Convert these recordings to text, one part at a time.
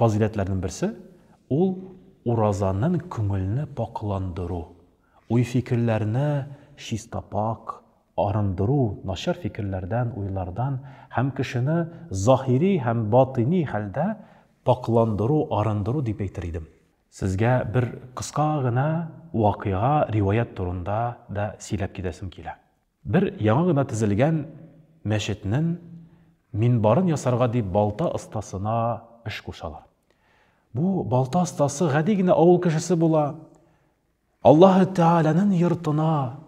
Фазыйләтләрнең берсе, ул уразаның күңелне пакъландыру, уй-фикерләрне чистапак арындыру начар фикерләрдән, уйлардан һәм кешене заһири һәм батыни хәлдә пакъландыру, арындыру дип әйтер идем. Сезгә бер кыска гына вакыйга, риваять турында да сөйләп китәсем килә. Бер яңа гына тезелгән мәчетнен минбарын ясарга дип балта остасына эш кушалар. Бу балта остасы гади генә авыл кешесе була. Аллаһы Тәгаләнен йортына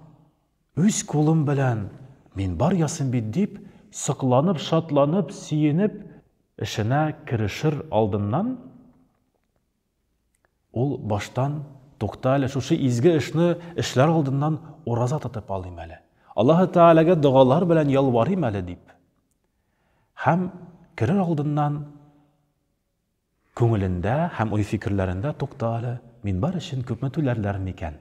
үз кулым белән минбар ясыйм бит дип, сокланып, шатланып, сөенеп, эшенә керешер алдыннан, Ул баштан, Тукта әле, шушы изге эшне эшләр алдыннан ураза тотып алыйм әле. Аллаһы Тәгаләгә догалар белән ялварыйм әле, дип. Һәм керер алдыннан күңелендә һәм уй-фикерләрендә Тукта әле, мин бар өчен күпме түләрләр микән?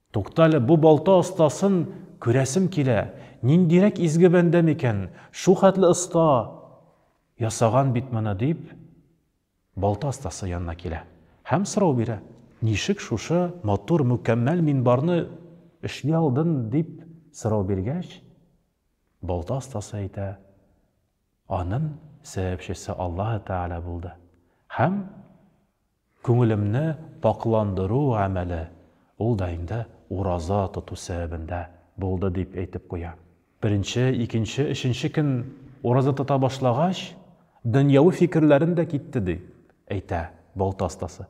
Туктале, бу балта остасын күрәсем килә, ниндирәк изге бәндә микән, шул хәтле оста ясаган бит моны, дип, балта остасы янына килә һәм сорау бирә. Ничек шушы матур, мөкәммәл минбарны эшли алдын, дип сорау биргәч, балта остасы әйтә, анын сәбәпчесе Аллаһы Тәгалә булды һәм, Күңелемне пакъландыру гамәле ул да инде ураза тоту сәбәбендә булды дип әйтеп куя. Беренче, икенче, өченче көн ураза тота башлагач, дөньяви фикерләрем дә китте, ди әйтә балта остасы.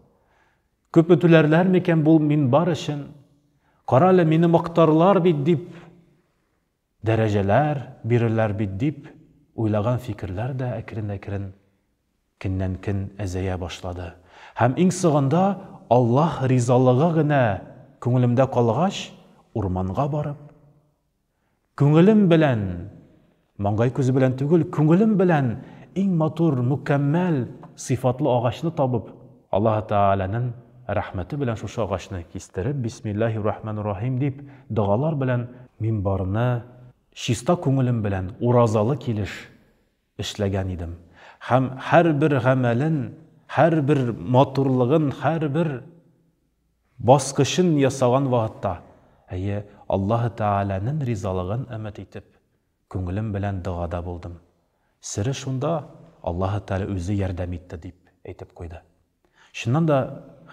Күпме түләрләр микән бу минбар өчен? Кара әле, мине мактарлар бит, дип. Дәрәҗәләр бирерләр бит дип уйлаган фикерләр дә әкрен-әкрен кеннән-көн әзәя башлады. Һәм иң согында Аллаһ ризалыгы генә күңелемдә калгач, урманга барып, күңелем белән, маңгай күзе белән түгел, күңелем белән иң матур, мөкәммәл сыйфатлы агачны табып, Аллаһы Тәгаләнең рәхмәте белән шушы агачны кистереп, бисмиллаһи рахманир рахим дип, догалар белән мимбарны чиста күңелем белән уразалы килеш эшләгән идем һәм һәрбер гамәлен, һәрбер матурлыгын, һәрбер баскычын ясаган вакытта, әйе, Аллаһы Тәгаләнең ризалыгын өмет итеп, күңелем белән догада булдым. Сере шунда, Аллаһы Тәгалә үзе ярдәм итте, дип әйтеп куйды. Чыннан да,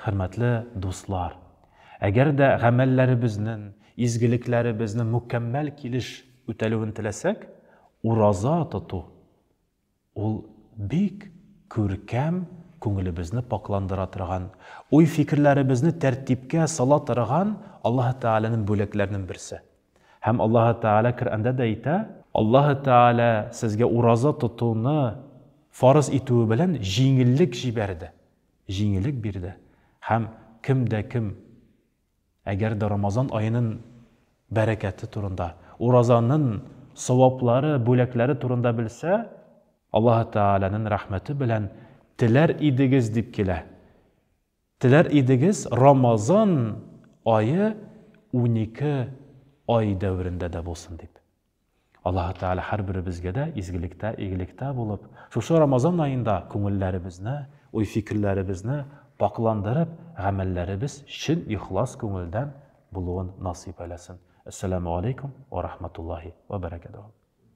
хөрмәтле дуслар, әгәр дә гамәлләребезнен, изгелекләребезнен мөкәммәл килеш үтәлүен теләсәк, ураза тоту Ул бик күркәм, күңелебезне пакъландыра торган, уй-фикерләребезне тәртипкә сала торган Аллаһы Тәгаләнең бүләкләренең берсе. Һәм Аллаһы Тәгалә Коръәндә дә әйтә. Аллаһы Тәгалә сезгә ураза тотуны фарыз итүе белән җиңеллек җибәрде, җиңеллек бирде. Һәм кем дә кем Әгәр дә Рамазан аенын бәрәкәте турында, уразанын саваплары, бүләкләре турында белсә, Аллаһы Тәгаләнен рәхмәте белән теләр идегез дип килә. Теләр идегез Рамазан ае унике ай дәверендә дә булсын дип. Аллаһы Тәгалә һәрберебезгә дә изгелектә, игелектә булып, шушы Рамазан аенда күңелләребезне, уй-фикерләребезне пакъландырып, гамәлләребез чын ихлас күңелдән булуын насыйп әйләсен. Әссәламү алейкум ва рахматуллаһи ва бәрәкәтүһү.